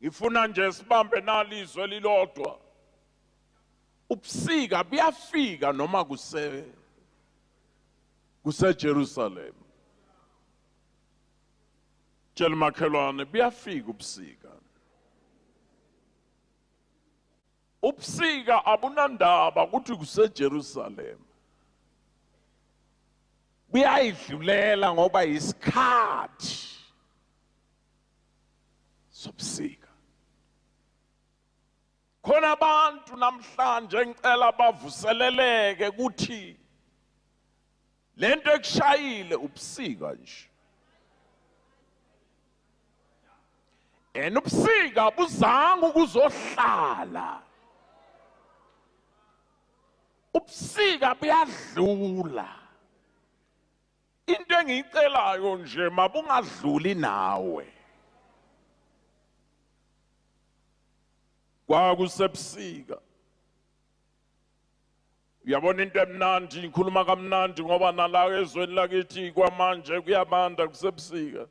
Ngifuna nje sibambe nali izwe elilodwa. Ubusika buyafika noma kuse kuseJerusalem. Tshela makhelwane buyafika ubusika. Ubusika abunandaba ukuthi kuseJerusalem. Buyayidlulela ngoba isikhathi zobusika khona abantu namhlanje ngicela bavuseleleke ukuthi lento ekushayile ubusika nje and ubusika buzanga ukuzohlala ubusika buyadlula Into engiyicelayo nje mabungadluli nawe. Kwakusebusika. Uyabona into emnandi ngikhuluma kamnandi ngoba nala ezweni lakithi kwamanje kuyabanda kusebusika.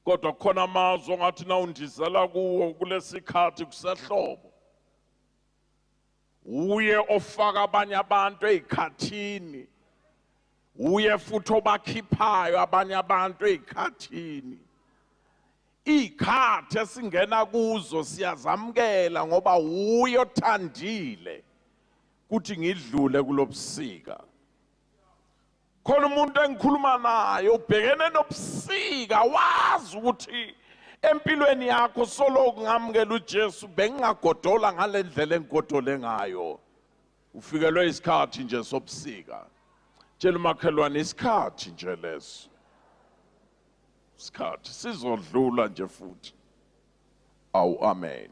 Kodwa kukhona amazwi ongathi nawundizela kuwo kulesikhathi kusehlobo. Wuye ofaka abanye abantu ezikhathini. Wuye futhi obakhiphayo abanye abantu ezikhathini. Izikhathi esingena kuzo siyazamukela ngoba wuye othandile ukuthi ngidlule kulobusika. khona umuntu engikhuluma naye ubhekene nobusika wazi ukuthi empilweni yakho soloku ngamukela uJesu bengingagodola ngalendlela engigodole ngayo ufikelwe isikhathi nje sobusika tshela umakhelwane isikhathi nje leso isikhathi sizodlula nje futhi awu amen